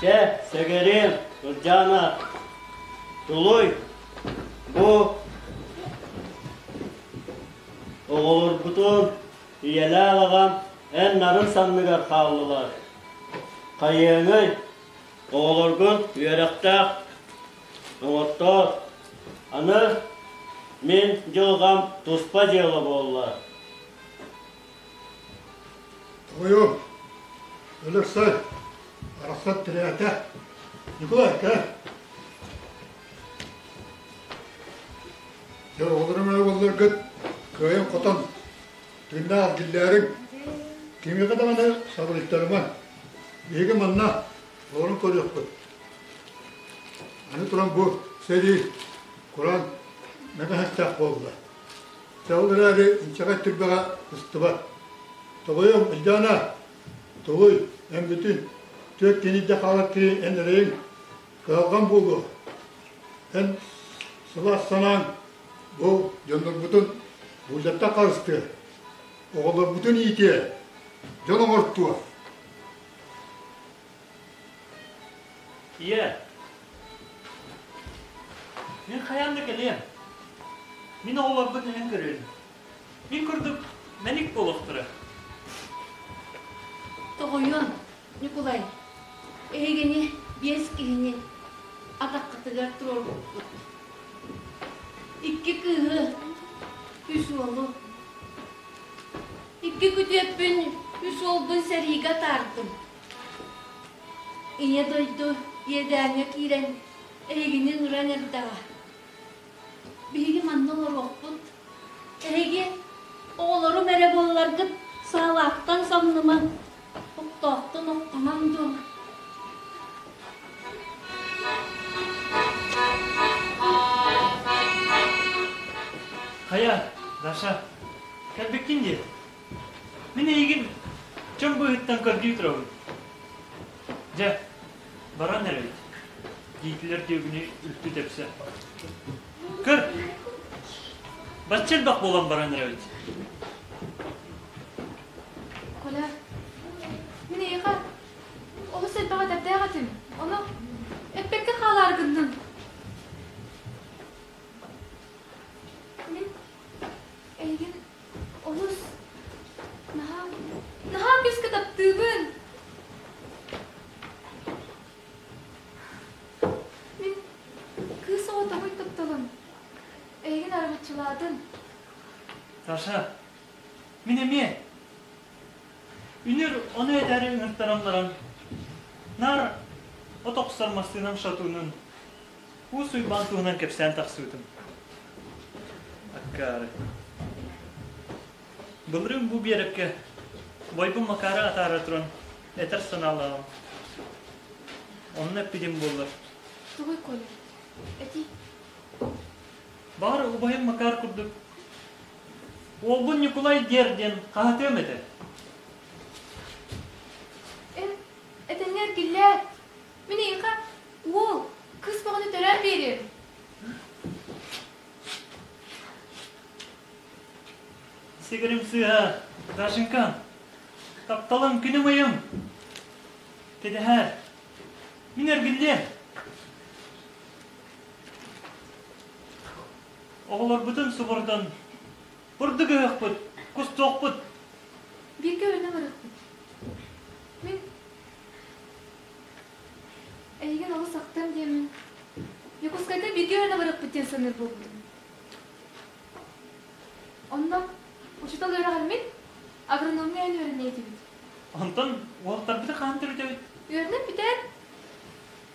Чэ, Сэгэрим, Туржана, тулуй. Бу оҕолорбутун ийэлээх аҕам эн нарын санныгар хааллылар. Хайыаҥый, оҕолоргун үөрэхтээх Доҕоттоор, аны мин дьылҕам туспа дьыала буолла. Тоҕойу, Өлөксөй, арахсан тирээтэ. Николай, кээ. Дьорҕолорум өйголлоргыт кыайын хотон, түннэ аргиллээрин, кимиэхэ да маны сабылыттарыман. Биһиги манна Толору көрүөхпүт. Аны туран бу сэрии куран мэтэһэстээх буолла. Ол эрээри инчэҕэй түрбэҕэ ыстыбат. Тоҕойум, Ильдана, тугуй, эн бүтүн түөрт кинийдэ хаалар киһи эн эрэйиҥ кыһалҕан буолуо. Эн сылаас санааҥ бу дьоннорбутун буулдьаттан харыстыа, оҕолорбутун иитиэ, дьон оҥортуо. Ийэ. Мин хайаан да кэлиэм. Мин оҕолорбут иһин көрүөн. Мин курдук мэник буолуохтара. Тоҕойуон, Ньукулай, эһигини биэс киһини атаххытыгар туруорбуппут. Икки кыыһы, үс уолу, Икки күтүөппүн үс уолбун сэриигэ атаардым. Ийэ дойду иэдээҥҥэ киирэн эһигини нуран эрдэҕэ. Биһиги манна олоруохпут. Эһиги оҕолорум эрэ буолларгыт саалаахтан самныма, Оттоохтон оттонон дьон Хайа, Даша, кэлбиккин дии. Мин эйигин чөм быыһыттан көрдүү турабын. Дьэ, баран эрэбит. Диитилэр дьүөгүнү үлтү тэпсэ. Көр, бачча элбэх буолан баран эрэбит. Коля, миэхэ олус элбэҕи этэрдээх этим. Ону эппэккэ хаалаар гыннын. Мин эйигин олус наһаа наһаа күүскэ таптыыбын. Мин кыыс оҕо тоҕуй тапталым. Эйигин аргыччылаатын. Саша, Мин эмиэ үнүр ону этээри ыҥыртаран баран наар от охсор массыынам шатунун Уус Уйбаан туһунан кэпсээн тахсыбытым. Аккаары. Былырыын бу биэрэккэ Бойбум Макаары атаара туран этэр санаалааҕым. Онно эппитим буоллар. Тугуй Коля? Эти? Баар убайым Макаар курдук Уолбун Ньукулай диэр диэн хаһатыам этэ. Эн этэннэр киллээт, мин эйиэхэ уол, кыыс бөҕөнү төрөөн биэриэм. Сигирим сыыһа, Дашенька, тапталым күнүм ыйым. Кэдэһэр, мин эргиллиэм. Оҕолорбутун субурдун. Бурдук ыһыахпыт, кустуохпут. Бииргэ өлөнөн ырыахпыт. Мин эйигин олус ахтам диэмин. Дьокуускайтан бииргэ өлөнөн ырыахпыт диэн саныыр буолбутум. Онно учуутал үөрэҕэр мин агрономия эн үөрэнэ этибит. Онтон уолтарбыты хаһан төрүтэбит? Үөрэнэн бүтэн,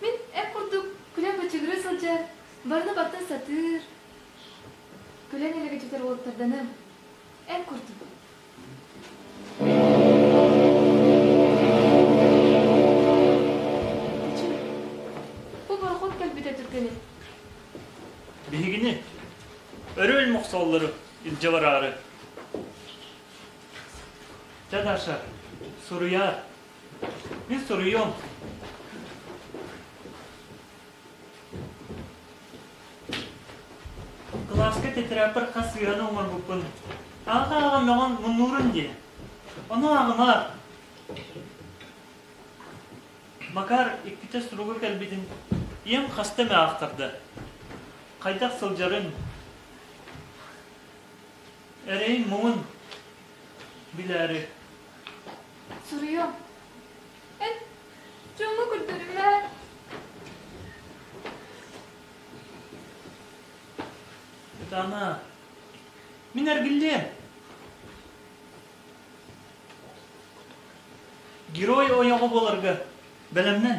мин эн курдук күлэн бычыгырыы сылдьар Барыны барта сатыыр, күлэн элэгэдьитэр уолаттарданы эн курдук. Бу борохот кэлбитэ түргэнэ. Биһигини өрөөл мохсоллары илдьэ бараары. Дьэ, Даша, суруйаар. Мен суруйуом. Кылааска тетрадьпар хас сыһыаны оҥорбуппун аҕа ааҕыннаҕын муннуурум диэн. Ону ааҕымаар. Макар иккитэ суруга кэлбитин ийэм хаста эмэ аахтарда. Хайдах сылдьарын, эрэйин муҥун билээри. Суруйуом. Эн Дьону көрдөрүмэт. Итана, мин эргиллиэм. Герой ойоҕо боларга бэлэмнэн.